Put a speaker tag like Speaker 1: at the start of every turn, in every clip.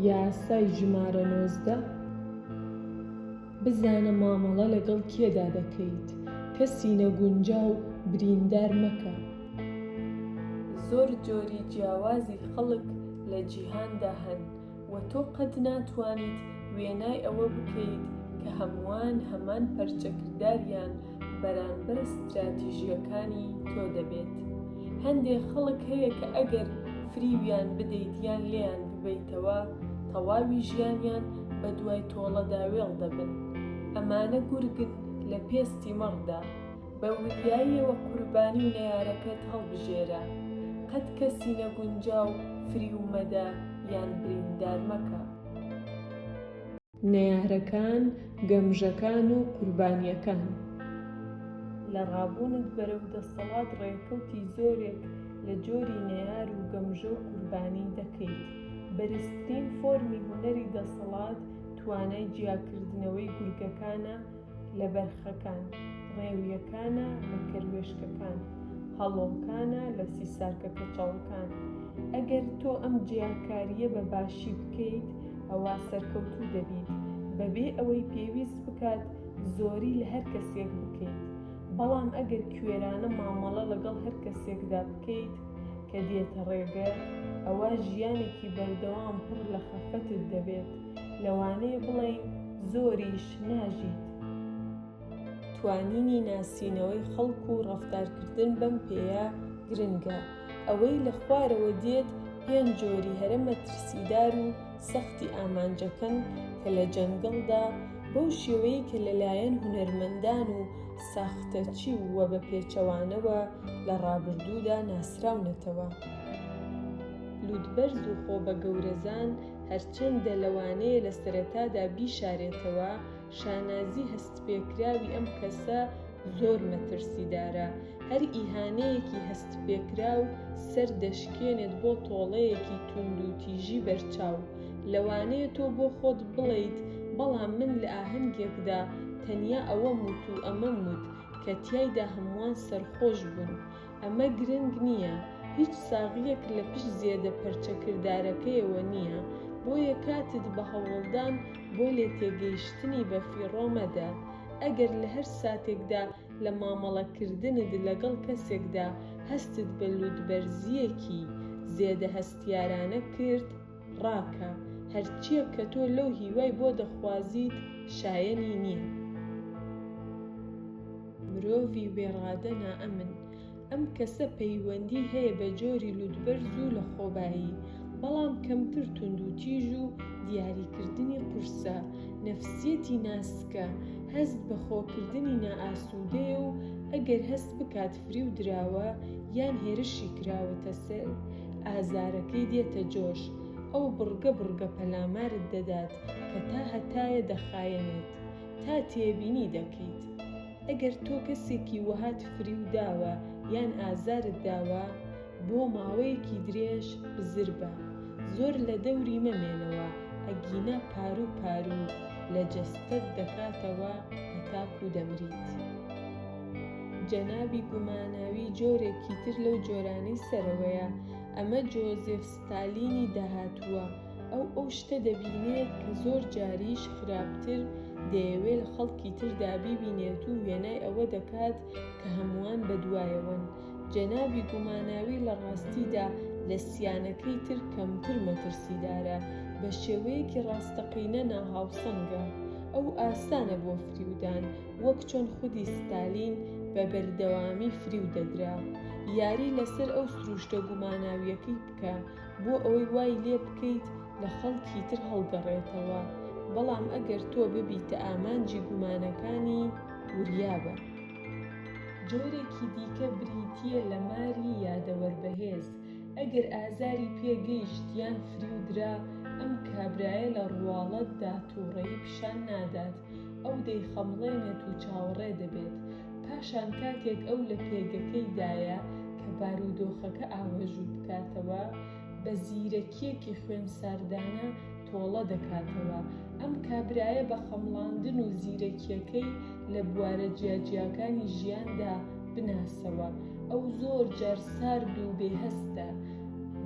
Speaker 1: یاسای ژمارە نۆزدە بزانە مامەڵە لەگەڵ کێدا دەکەیت، کەسی نەگونجاو بریندار مەکە. زۆر جۆری جیاوازی خەڵک لە جیهاندا هەن، وە تۆ قەت ناتوانیت وێنای ئەوە بکەیت کە هەمووان هەمان پەرچەکرداریان بەرانبەر ستراتیژییەکانی تۆ دەبێت. هەندێک خەڵک هەیە کە ئەگەر فریویان بدەیت یان لێیان ببەیتەوە تەواوی ژیانیان بە دوای تۆڵەدا وێڵ دەبن. ئەمانە گورگن لە پێستی مەڕدا. بە وریاییەوە قوربانی و نەیارەکەت هەڵبژێرە، قەت کەسی نەگونجاو فریو مەدە یان بریندار مەکە. نەیارەکان، گەمژەکان و قوربانییەکان لە ڕابوونت بەرەو دەسەڵات ڕێکەوتی زۆرێک لە جۆری نەیار و گەمژە و قوربانی دەکەیت. بەرزترین فۆرمی هونەری دەسەڵات توانای جیاکردنەوەی گورگەکانە، لە بەرخەکان، ڕێویەکانە لە کەروێشکەکان، هەڵۆکانە لە سیسارکە کەچەڵەکان. ئەگەر تۆ ئەم جیاکارییە بە باشی بکەیت، ئەوا سەرکەوتوو دەبیت، بەبێ ئەوەی پێویست بکات زۆری لە هەر کەسێک بکەیت. بەڵام ئەگەر کوێرانە مامەڵە لەگەڵ هەر کەسێکدا بکەیت کە دێتە ڕێگەت، ئەوا ژیانێکی بەردەوام پڕ لە خەفەتت دەبێت. لەوانەیە بڵێین زۆریش ناژیت. توانینی ناسینەوەی خەڵک و ڕەفتارکردن بەم پێیە گرنگە. ئەوەی لە خوارەوە دێت پێنج جۆری هەرە مەترسیدار و سەختی ئامانجەکەن کە لە جەنگڵدا بەو شێوەیەی کە لەلایەن هونەرمەندان و ساختەچی و وە بە پێچەوانەوە لە ڕابردوودا ناسراونەتەوە. لووتبەرز و خۆبەگەورەزان، چەندە لەوانەیە لە سەرەتادا بیشارێتەوە، شانازی هەستپێکراوی ئەم کەسە زۆر مەترسیدارە، هەر ئیهانەیەکی هەستپێکراو سەر دەشکێنێت بۆ تۆڵەیەکی توندوتیژی بەرچاو. لەوانەیە تۆ بۆ خۆت بڵێیت، بەڵام من لە ئاهەنگێکدا تەنیا ئەوەم وت و ئەمەم وت، کە تیایدا هەمووان سەرخۆش بوون. ئەمە گرنگ نییە، هیچ ساغییەک لە پشت زێدە پەرچەکردارەکەیەوە نییە، بۆیە کاتت بە هەوڵدان بۆ لێتێگەیشتنی بەفیڕۆ مەدە. ئەگەر لە هەر ساتێکدا لە مامەڵەکردنت لەگەڵ کەسێکدا هەستت بە لووتبەرزییەکی زێدە هەستیارانە کرد، ڕاکە، هەرچییەک کە تۆ لەو هیوای بۆ دەخوازیت شایەنی نییە. مرۆڤی بێڕادە نائەمن، ئەم کەسە پەیوەندی هەیە بە جۆری لوتبەرز و لەخۆبایی، بەڵام کەمتر توندوتیژ و دیاریکردنی قورسە. نەفسیەتی ناسکە، هەست بە خۆکردنی نائاسوودەیە و ئەگەر هەست بکات فریو دراوە یان هێرشی کراوەتە سەر، ئازارەکەی دێتە جۆش، ئەو بڕگە بڕگە پەلامارت دەدات کە تا هەتایە دەخایەنێت تا تێبینی دەکەیت. ئەگەر تۆ کەسێکی وەهات فریو داوە یان ئازارت داوە، بۆ ماوەیەکی درێژ بزر بە، زۆر لە دەوری مەمێنەوە ئەگینا پاروو پاروو لە جەستەت دەکاتەوە هەتاکوو دەمریت. جەنابی گوماناوی جۆرێکی تر لەو جۆرانەی سەرەوەیە، ئەمە جۆزێف ستالینی داهاتووە، ئەو ئەو شتە دەبینێت کە زۆر جاریش خراپتر دەیەوێت لە خەڵکی تردا بیبینێت و وێنای ئەوە دەکات کە هەمووان بەدوایەوەن. جەنابی گوماناوی لە ڕاستیدا لە سیانەکەی تر کەمتر مەترسیدارە، بە شێوەیەکی ڕاستەقینە ناهاوسەنگە. ئەو ئاسانە بۆ فریودان. وەک چۆن خودی ستالین بە بەردەوامی فریو دەدرا یاری لەسەر ئەو سروشتە گوماناویەکەی بکە بۆ ئەوەی وای لێ بکەیت لە خەڵکی تر هەڵگەڕێتەوە، بەڵام ئەگەر تۆ ببیتە ئامانجی گومانەکانی وریابە. جۆرێکی دیکە بریتییە لە ماری یادەوەر بەهێز، ئەگەر ئازاری پێ گەیشت یان فریو درا، ئەم کابرایە لە ڕواڵەتدا توڕەیی پیشان نادات، ئەو دەیخەمڵێنێت و چاوەڕێ دەبێت، پاشان کاتێک ئەو لە پێگەکەیدایە کە بارودۆخەکە ئاوەژوو بکاتەوە، بە زیرەکییەکی خوێنساردانە تۆڵە دەکاتەوە، ئەم کابرایە بە خەمڵاندن و زیرەکییەکەی لە بوارە جیاجیاکانی ژیاندا بناسەوە، ئەو زۆر جار سارد و بێهەستە،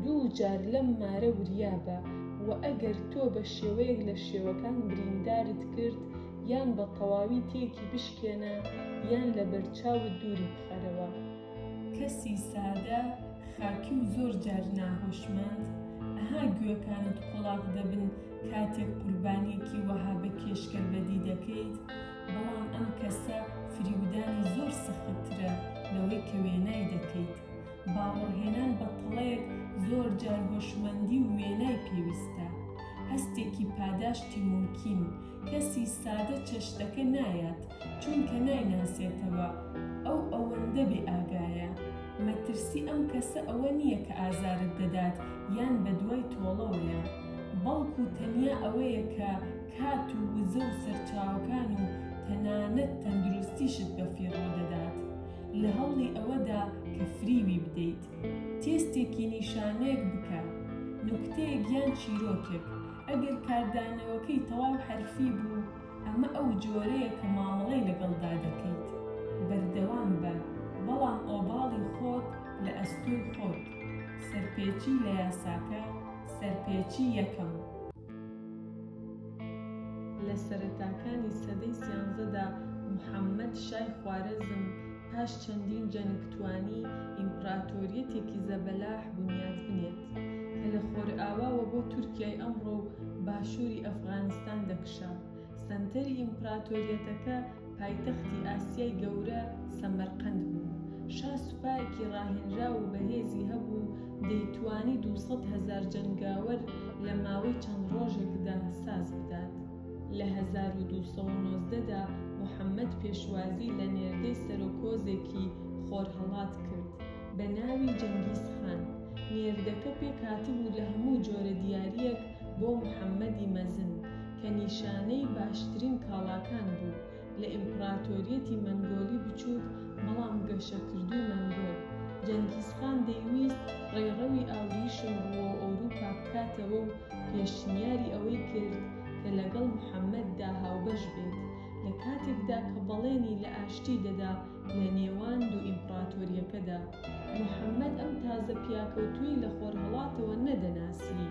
Speaker 1: دوو جار لەم مارە وریابە و ئەگەر تۆ بە شێوەیەک لە شێوەکان بریندارت کرد یان بە تەواوی تێکی بشکێنە یان لە بەرچاوت دووری بخەرەوە. کەسی سادە، خاکی و زۆر جار ناهۆشمەند، ئەها گوێکانت قۆڵاخ دەبن کاتێک قوربانییەکی وەها بە کێشگەر بەدی دەکەیت، بەڵام ئەم کەسە فریودانی زۆر سەختترە لەوەی کە وێنای دەکەیت. باوەڕهێنان بە تەڵەیەک زۆر جار هۆشمەندی و وێنای پێویستە، هەستێکی پاداشتی مومکین، کەسی سادە چەشتەکە نایات چونکە نایناسێتەوە، ئەو ئەوەندە بێ ئاگایە، مەترسی ئەم کەسە ئەوە نییە کە ئازارت دەدات یان بەدوای تۆڵەوەیە، بەڵکو تەنیا ئەوەیە کە کات و وزە و سەرچاوەکان و تەنانەت تەندروستیشت بەفیڕۆ دەدات. لە هەوڵی ئەوەدا کە فریوی بدەیت. تێستێکی نیشانەیەک بکە، نوکتەیەک یان چیرۆکێک. ئەگەر کاردانەوەکەی تەواو حەرفی بوو، ئەمە ئەو جۆرەیە کە مامەڵەی لەگەڵدا دەکەیت. بەردەوام بە، بەڵام ئۆباڵی خۆت لە ئەستۆی خۆت. سەرپێچی لە یاساکە، سەرپێچی یەکەم. لە سەرەتاکانی سەدەی سیانزەدا محەمەد شای خوارەزم پاش چەندین جەنگ توانی ئیمپراتۆریەتێکی زەبەلاح بونیاد بنێت کە لە خۆرئاواوە بۆ تورکیای ئەمڕۆ و باشوری ئەفغانستان دەکشا. سەنتەری ئیمپراتۆریەتەکە پایتەختی ئاسیای گەورە سەمەرقەند بوو. شا سوپایەکی ڕاهێنراو و بەهێزی هەبوو، دەیتوانی دوو سەد هەزار جەنگاوەر لە ماوەی چەند ڕۆژێکدا ساز بدات. لە هەزار و دوو سەد و نۆزدە دا محەمەد پێشوازی لە نێردەی سەرۆک هۆزێکی خۆرهەڵات کرد بە ناوی جەنگیز خان. نێردەکە پێکهاتبوو لە هەموو جۆرە دیارییەک، بۆ محەممەدی مەزن کە نیشانەی باشترین کاڵاکان بوو لە ئیمپڕاتۆریەتی مەنگۆلی بچووک بەڵام گەشەکردووی مەنگۆل جەنگیزخان دەیویست ڕێڕەوی ئاوریشم ڕووەوئەوروپا بکاتەوە و پێشنیاری ئەوەی کرد کە لەگەڵ محەممەددا هاوبەش بێت لە کاتێکدا کە بەڵێنی لە ئاشتی دەدا لە نێوان دوو ئیمپڕاتۆرییەکەدا، موحەممەد ئەم تازە پیاکەوتووی لە خۆرهەڵاتەوە نەدەناسی،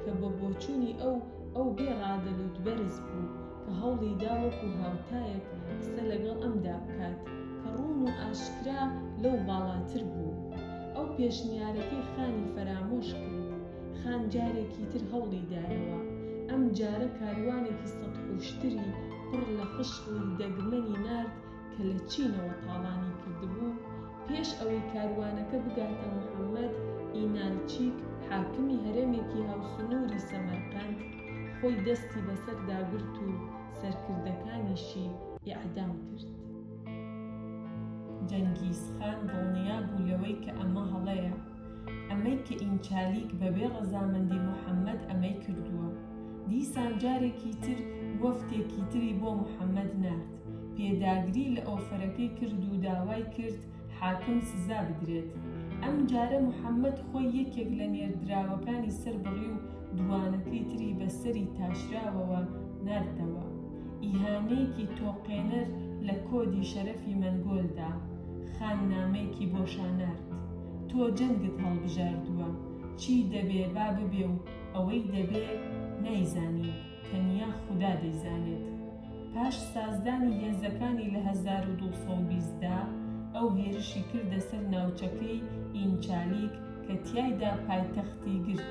Speaker 1: کە بە بۆچوونی ئەو، ئەو بێ ڕادەلووت بەرز بوو، کە هەوڵی دا وەکوو هاوتایەک قسە لەگەڵ ئەمدا بکات، کە ڕوون و ئاشکرا لەو باڵاتر بوو. ئەو پێشنیارەکەی خانی فەرامۆش کرد. خان جارێکی تر هەوڵی دایەوە. ئەم جارە کاروانێکی سەدحوشتری پڕ لە خشڵی دەگمەنی نارد کە لە چینەوە تاڵانی کردبوو، پێش ئەوەی کاروانەکە بگاتە محەمەد ئینالچیک حاکمی هەرێمێکی هاوسنووری سەمەرقەند، خۆی دەستی بەسەردا گرت و سەرکردەکانیشی ئێعدام کرد. جەنگیز خان دڵنیا بوو لەوەی کە ئەمە هەڵەیە، ئەمەی کە ئینچالیک بەبێ ڕەزامەندی محەمەد ئەمەی کردووە. دیسان جارێکی تر وەفدێکی تری بۆ محەمەد نارد. پێداگری لە ئۆفەرەکەی کرد و داوای کرد حاکم سزا بدرێت. ئەم جارە محەمەد خۆی یەکێک لە نێردراوەکانی سەربڕی و دووانەکەی تری بە سەری تاشراوەوە ناردەوە. ئیهانەیەکی تۆقێنەر لە کۆدی شەرەفی مەنگۆل دا. خان نامەیەکی بۆ شا نارد. تۆ جەنگت هەڵبژاردووە. چی دەبێ با ببێ و ئەوەی دەبێ نایزانین. تەنیا خودا دەیزانێت پاش سازدانی هێزەکانی لە هەزار و دوو سەد و بیست دا، ئەو هێرشی کردە سەر ناوچەکەی ئینچالیک کە تیایدا پایتەختی گرت.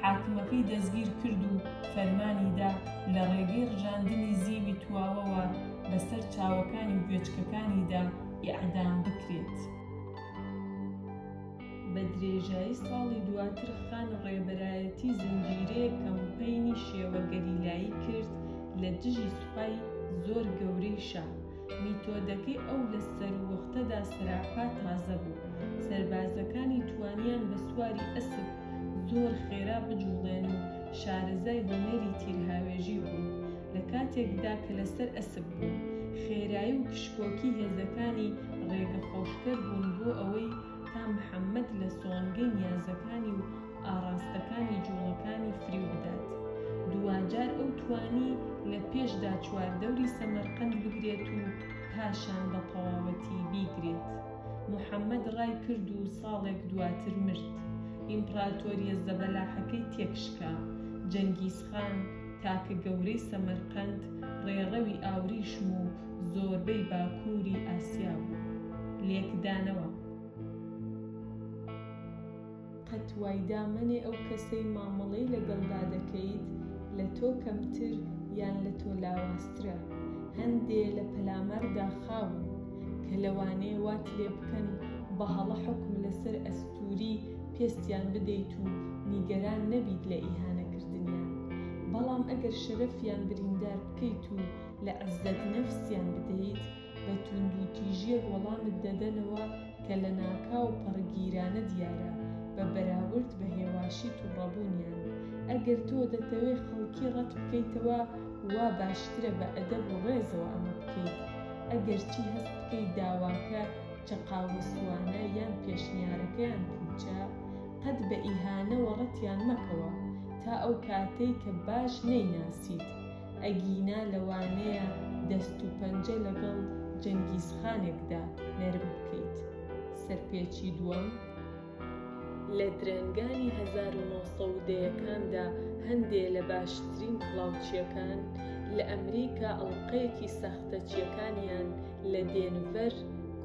Speaker 1: حاکمەکەی دەستگیر کرد و فەرمانی دا لە ڕێگەی ڕژاندنی زیوی تواوەوە بە سەر چاوەکانی گوێچکەکانیدا ئیعدام بکرێت. بە درێژایی ساڵی دواتر خان ڕێبەرایەتی زنجیرەیەک کەمپەینی شێوە گەریلایی کرد لە دژی سوپای زۆر گەورەی شا. میتۆدەکەی ئەو لە سەرووەختەدا سەراپا تازە بوو. سەربازەکانی توانیان بە سواری ئەسپ زۆر خێرا بجووڵێن و شارەزای هونەری تیرهاوێژی بوون. لە کاتێکدا کە لەسەر ئەسپ بوون، خێرایی و کشکۆکی هێزەکانی ڕێگەخۆشکەر بوون بۆ ئەوەی تا محەممەد لە سۆنگەی نیازەکانی و ئاڕاستەکانی جووڵەکانی فریو بدات. دواجار ئەو توانی لە پێشدا چواردەوری سەمەرقەند بگرێت و پاشان بە تەواوەتی بیگرێت. محەممەد ڕای کرد و ساڵێک دواتر مرد. ئیمپڕاتۆرییە زەبەلاحەکەی تێکشکا. جەنگیزخان، تاکە گەورەی سەمەرقەند، ڕێڕەوی ئاوریشم و زۆربەی باکووری ئاسیا و لێکدانەوە. قەت وایدا مەنێ ئەو کەسەی مامەڵەی لەگەڵدا دەکەیت لە تۆ کەمتر یان لە تۆ لاوازترە، هەندێ لە پەلاماردا خاون کە لەوانەیە وات لێ بکەن بە هەڵە حوکم لەسەر ئەستووری پێستیان بدەیت و نیگەران نەبیت لە ئیهانەکردنیان، بەڵام ئەگەر شەرەفیان بریندار بکەیت و لە عزەت نەفسیان بدەیت بە توندوتیژیەک وەڵامت دەدەنەوە کە لە ناکاو پەڕگیرانە دیارە بە بەراورد بە هێواشی توڕەبونیان ئەگەر تۆ دەتەوێ خەڵکی ڕەت بکەیتەوە وا باشترە بە ئەدەب و ڕێزەوە ئەمە بکەیت ئەگەر چی هەست بکەیت داواکە چەقاوەسوانە یان پێشنیارەکەیان پوچە قەت بە ئیهانەوە ڕەتیان مەکەوە تا ئەو کاتەی کە باش نەیناسیت ئەگینا لەوانەیە دەست و پەنجە لەگەڵ جەنگیز خانێکدا نەرم بکەیت. سەرپێچی دووەم. لە درەنگانی هەزار و نۆ سەد و دەیەکاندا هەندێ لە باشترین هەڵاوچییەکان لە ئەمریکا ئەڵقەیەکی ساختەچییەکانیان لە دێنڤەر،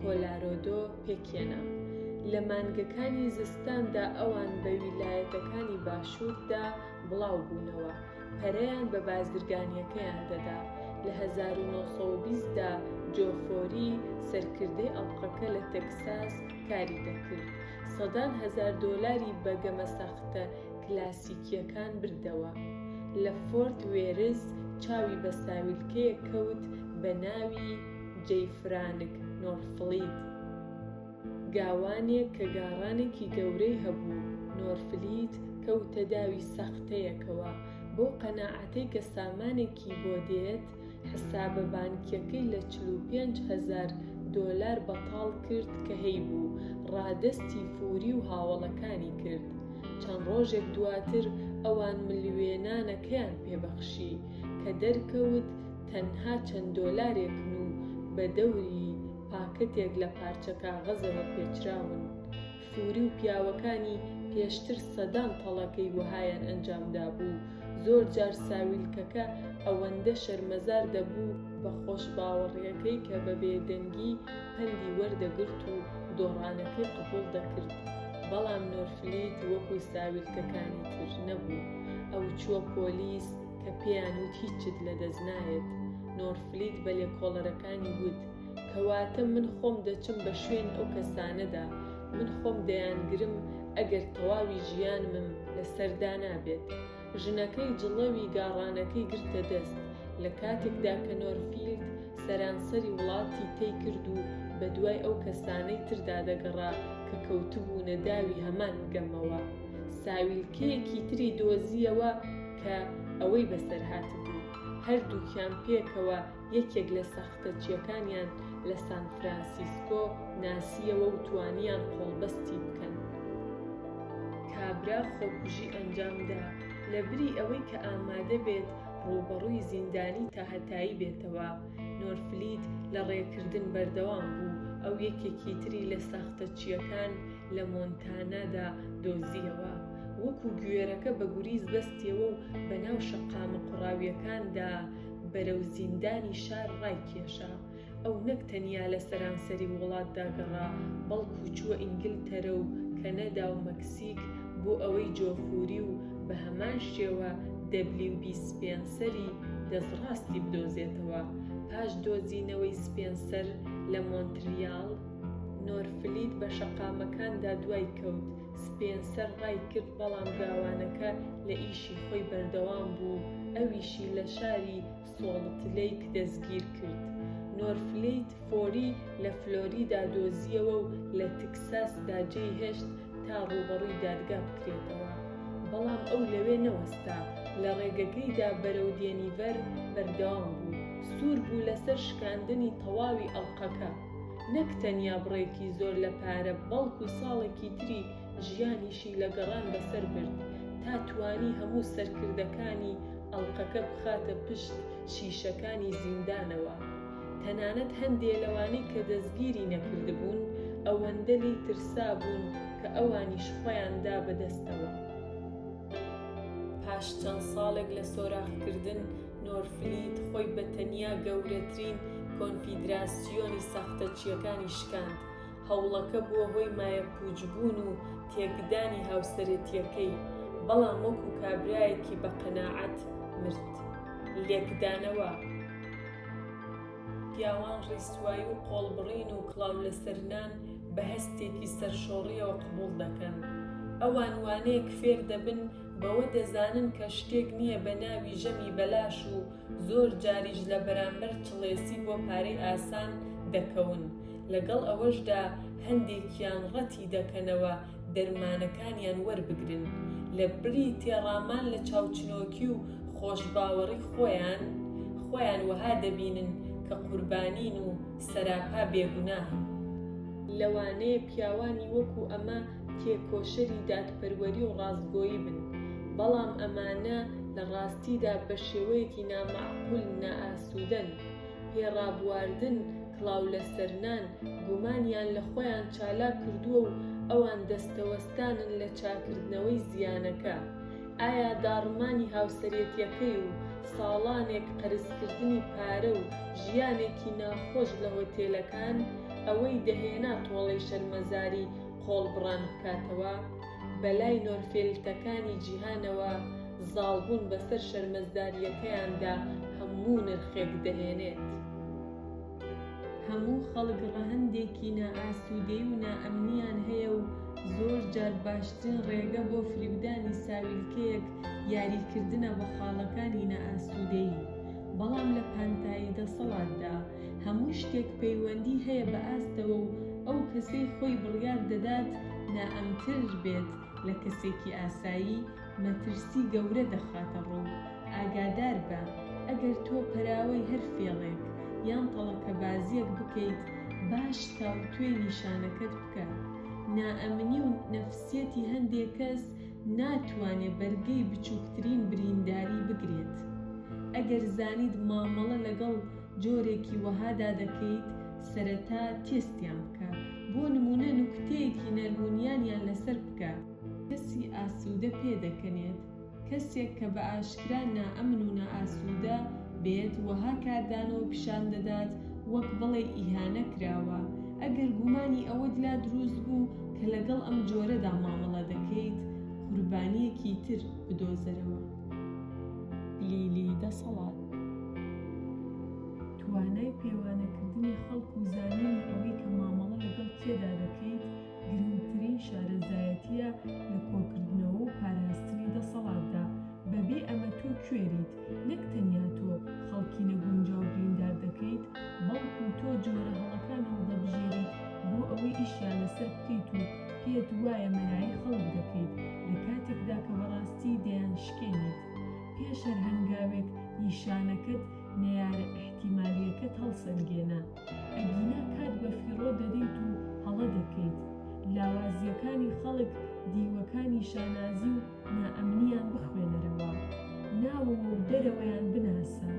Speaker 1: کۆلارۆدۆ پێکهێنا. لە مانگەکانی زستاندا ئەوان بە ویلایەتەکانی باشووردا بڵاو بوونەوە. پەرەیان بە بازرگانییەکەیان دەدا. لە هەزار و نۆ سەد و بیست دا جۆ فۆری سەرکردەی ئەڵقەکە لە تەکساس کاری دەکرد، سەدان هەزار دۆلاری بە گەمە ساختە کلاسیکییەکان بردەوە. لە فۆرت وێرس چاوی بە ساویلکەیەک کەوت بە ناوی جەی فرانک نۆرفڵید. گاوانێک کە گاڕانێکی گەورەی هەبوو، نۆرفلیت کەوتە داوی سەختەیەکەوە، بەو قەناعەتەی کە سامانێکی بۆ دێت، حسابە بانکییەکەی لە چل و پێنج هەزار دۆلار بەتاڵ کرد کە هەیبوو، ڕادەستی فوری و هاوەڵەکانی کرد. چەند ڕۆژێک دواتر ئەوان ملوێنانەکەیان پێ بەخشی، کە دەرکەوت تەنها چەند دۆلارێکن و بە دەوری، پاکتێک لە پارچە کاغەزەوە پێچراون، فوری و پیاوەکانی پێشتر سەدان تەڵەکەی وەهایان ئەنجام دابوو، زۆر جار ساویلکەکە ئەوەندە شەرمەزار دەبوو بە خۆشباوەڕیەکەی کە بە بێدەنگی پەندی وەردەگرت و دۆڕانەکەی قبوڵ دەکرد، بەڵام نۆرفلیت وەکو ساویلکەکانی تر نەبوو، ئەوچووە پۆلیس کە پێیان وت هیچت لەدەست نایەت، نۆرفلیت بە لێکۆڵەرەکانی وت. کەواتە من خۆم دەچم بە شوێن ئەو کەسانەدا من خۆم دەیانگرم ئەگەر تەواوی ژیانمم لەسەر دانابێت ژنەکەی جڵەوی گاڕانەکەی گرتە دەست لە کاتێکدا کە نۆرفیلد سەرانسەری وڵاتی تەی کرد و بە دوای ئەو کەسانەی تردا دەگەڕا کە کەوتبوونە داوی هەمان گەمەوە ساویلکەیەکی تری دۆزییەوە کە ئەوەی بەسەر هاتبوو هەردووکیان پێکەوە یەکێک لە سەختەچییەکانیان لە سان فرانسیسکۆ ناسییەوە و توانییان قۆڵبەستی بکەن. کابرا خۆکوژی ئەنجامدا، لەبری ئەوەی کە ئامادە بێت ڕووبەڕووی زیندانی تاهەتایی بێتەوە. نۆرفلید لە ڕێکردن بەردەوام بوو، ئەو یەکێکی تری لە ساختەچییەکان لە مۆنتانادا دۆزییەوە. وەکو گوێرەکە بە گوریس بەستییەوە و بەناو شەقامە قوڕاوییەکاندا بەرەو زیندانی شار ڕایکێشا. ئەو نەک تەنیا لە سەرانسەری وڵاتدا گەڕا، بەڵکو چووە ئینگلتەرە و کەنەدا و مەکسیک بۆ ئەوەی جۆفوری و بە هەمان شێوە دەبلیو بی سپێنسەری دەستڕاستی بدۆزێتەوە. پاش دۆزینەوەی سپێنسەر لە مۆنتریال، نۆرفلید بە شەقامەکاندا دوای کەوت، سپێنسەر ڕایکرد، بەڵام گاوانەکە لە ئیشی خۆی بەردەوام بوو و ئەویشی لە شاری سۆڵت لەیک دەستگیر کرد. نۆرفلەیت فۆری لە فلۆریدا دۆزییەوە و لە تکساسدا جێیهێشت تا ڕووبەڕووی دادگا بکرێتەوە. بەڵام ئەو لەوێ نەوەستا، لە ڕێگەکەیدا بەرەو دێنیڤەر بەردەوام بوو. سوور بوو لەسەر شکاندنی تەواوی ئەڵقەکە. نەک تەنیا بڕێکی زۆر لە پارە بەڵکو ساڵێکی تری ژیانیشی لە گەڕان بەسەر برد تا توانی هەموو سەرکردەکانی ئەڵقەکە بخاتە پشت شیشەکانی زیندانەوە تەنانەت هەندێ لەوانەی کە دەستگیری نەکردبوون ئەوەندە لێی ترسابوون کە ئەوانیش خۆیان دا بە دەستەوە. پاش چەند ساڵێک لە سۆراخکردن نۆرفلیت خۆی بە تەنیا گەورەترین کۆنفیدراسیۆنی ساختەچییەکانی شکاند، هەوڵەکە بووە هۆی مایەپووچبوون و تێکدانی هاوسەرێتییەکەی، بەڵام وەکو کابرایەکی بە قەناعەت مرد. لێکدانەوە. پیاوان ڕیسوایی و قۆڵبڕین و کڵاولەسەرنان بە هەستێکی سەرشۆڕییەوە قبوڵ دەکەن. ئەوان وانەیەک فێر دەبن، بەوە دەزانن کە شتێک نییە بە ناوی ژەمی بەلاش و زۆر جاریش لە بەرامبەر چڵێسی بۆ پارەی ئاسان دەکەون، لەگەڵ ئەوەشدا هەندێکیان ڕەتی دەکەنەوە دەرمانەکانیان وەربگرن، لە بری تێڕامان لە چاوچنۆکی و خۆشباوەڕی خۆیان، خۆیان وەها دەبینن کە قوربانین و سەراپا بێگوناهن. لەوانەیە پیاوانی وەکو ئەمە تێکۆشەری دادپەروەری و ڕاستگۆیی بن، بەڵام ئەمانە لە ڕاستیدا بە شێوەیەکی نامەعقول نائاسوودەن، پێ ڕابواردن، کڵاو لەسەرنان، گومانیان لە خۆیان چالاک کردووە و ئەوان دەستەوەستانن لە چاککردنەوەی زیانەکە. ئایا داڕمانی هاوسەرێتیەکەی و ساڵانێک قەرزکردنی پارە و ژیانێکی ناخۆش لە هۆتێلەکان، ئەوەی دەهێنا تۆڵەی شەرمەزاری قۆڵبڕان بکاتەوە، بەلای نۆرفێلتەکانی جیهانەوە زاڵبوون بەسەر شەرمەزدارییەکەیاندا هەموو نرخێک دەهێنێت. هەموو خەڵک ڕەهەندێکی نائاسوودەیی و نائەمنییان هەیە و زۆر جار باشترین ڕێگە بۆ فریودانی ساویلکەیەک یاریکردنە بە خاڵەکانی نائاسوودەیی، بەڵام لە پانتایی دەسەڵاتدا، هەموو شتێک پەیوەندی هەیە بە ئاستەوە و ئەو کەسەی خۆی بڕیار دەدات نائەمنتر بێت لە کەسێکی ئاسایی، مەترسی گەورە دەخاتە ڕوو. ئاگادار بە، ئەگەر تۆ پەراوەی هەر فێڵێک یان تەڵەکەبازییەک بکەیت، باش تاوتوێی نیشانەکەت بکە. نائەمنی و نەفسیەتی هەندێک کەس ناتوانێت بەرگەی بچووکترین برینداری بگرێت. ئەگەر زانیت مامەڵە لەگەڵ. جۆرێکی وەها دادەکەیت سەرەتا تێستیان بکە بۆ نمونە نوکتەیەکی نەرم و نیانیان لەسەر بکە. کەسی ئاسودە پێ دەکەنێت، کەسێک کە بە ئاشکرا نائەمن و نائاسودە بێت وەها کاردانەوە پیشان دەدات وەک بڵێی ئیهانە کراوە، ئەگەر گومانی ئەوەت لا دروست بوو کە لەگەڵ ئەم جۆرەدا مامەڵە دەکەیت قوربانیەکی تر بدۆزەرەوە. لیلی دەسەڵات توانای پێوانەکردنی خەڵک و زانینی ئەوەی کە مامەڵە لەگەڵ کێدا دەکەیت گرنگترین شارەزایەتییە لە کۆکردنەوە و پاراستنی دەسەڵاتدا، بەبێ ئەمە تۆ کوێریت، نەک تەنیا تۆ خەڵکی نەگونجاو بریندار دەکەیت، بەڵکو تۆ جۆرە هەڵەکان هەڵدەبژێریت بۆ ئەوەی ئیشیان لەسەر بکەیت و پێت وایە مەرایی خەڵک دەکەیت لە کاتێکدا کە بەڕاستی دەیانشکێنیت. پێش هەر هەنگاوێک نیشانەکەت نەیارە ئیحتیمالییەکەت هەڵسەنگێنە. ئەگینا کات بەفیڕۆ دەدەیت و هەڵە دەکەیت. لاوازییەکانی خەڵک دیوەکانی شانازی و نائەمنییان بخوێنەرەوە. ناوەوە و دەرەوەیان بناسە.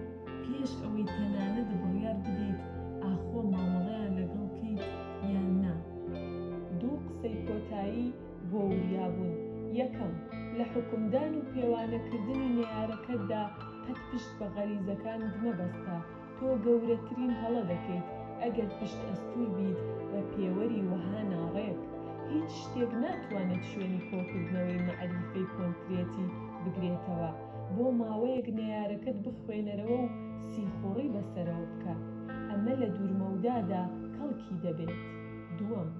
Speaker 1: پێش ئەوەی تەنانەت بڕیار بدەیت ئاخۆ مامەڵەیان لەگەڵ کەیت یان نا. دوو قسەی کۆتایی بۆ وریابوون، یەکەم، لە حوکمدان و پێوانەکردنی نەیارەکەتدا قەت پشت بە غەریزەکانت مەبەستە، تۆ گەورەترین هەڵە دەکەیت ئەگەر پشت ئەستوور بیت بە پێوەری وەها ناڕێک. هیچ شتێک ناتوانێت شوێنی کۆکردنەوەی مەعریفەی کۆنکرێتی بگرێتەوە. بۆ ماوەیەک نەیارەکەت بخوێنەرەوە و سیخوڕی بەسەرەوە بکە، ئەمە لە دوورمەودادا کەڵکی دەبێت. دووەم.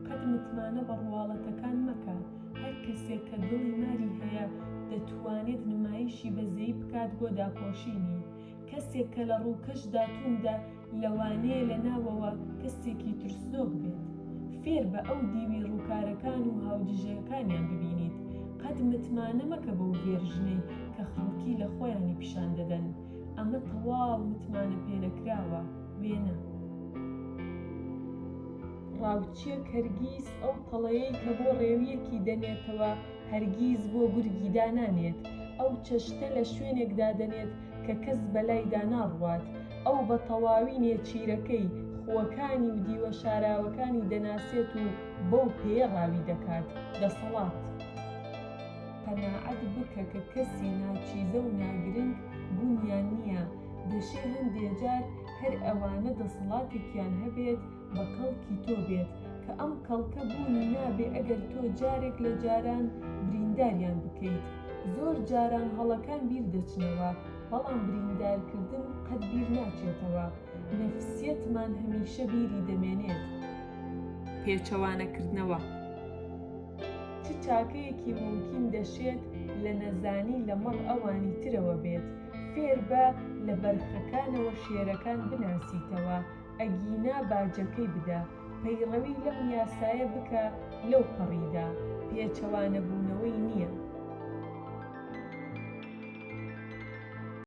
Speaker 1: قەت متمانە بە ڕواڵەتەکان مەکە، هەر کەسێک کە دڵی ماری هەیە دەتوانێت نمایشی بەزەیی بکات بۆ داپۆشینی، کەسێک کە لە ڕووکەشدا توندە، لەوانەیە لە ناوەوە کەسێکی ترسنۆک بێت. فێر بە ئەو دیوی ڕووکارەکان و هاودژەکانیان ببینیت. قەت متمانە مەکە بەو ڤێرژنەی کە خەڵکی لە خۆیانی پیشان دەدەن. ئەمە تەواو متمانەپێنەکراوە. وێنە. ڕاوچییەک هەرگیز ئەو پەڵەیەی کە بۆ ڕێوییەکی دەنێتەوە، هەرگیز بۆ گورگی دانانێت. ئەو چەشتە لە شوێنێک دادەنێت، کە کەس بەلایدا ناڕوات، ئەو بە تەواوی نێچیرەکەی، خووەکانی و دیوە شاراوەکانی دەناسێت و بەو پێیە ڕاوی دەکات. دەسەڵات. قەناعەت بکە کە کەسی ناچیزە و ناگرنگ بوونیان نییە، دەشێ هەندێ جار هەر ئەوانە دەسەڵاتێکیان هەبێت، بە کەڵکی تۆ بێت کە ئەم کەڵکە بوونی نابێ ئەگەر تۆ جارێک لە جاران برینداریان بکەیت زۆر جاران هەڵەکان بیر دەچنەوە بەڵام بریندار کردن قەت بیر ناچێتەوە نەفسیەتمان هەمیشە بیری دەمێنێت. پێچەوانە کردنەوە چ چاکەیەکی مومکین دەشێت لە نەزانی لە مەڕ ئەوانی ترەوە بێت فێربە لە بەرخەکانەوە شێرەکان بناسیتەوە ئەگینا باجەکەی بدە، پەیڕەوی لەم یاسایە بکە لەو پەڕیدا، پێچەوانەبوونەوەی نییە.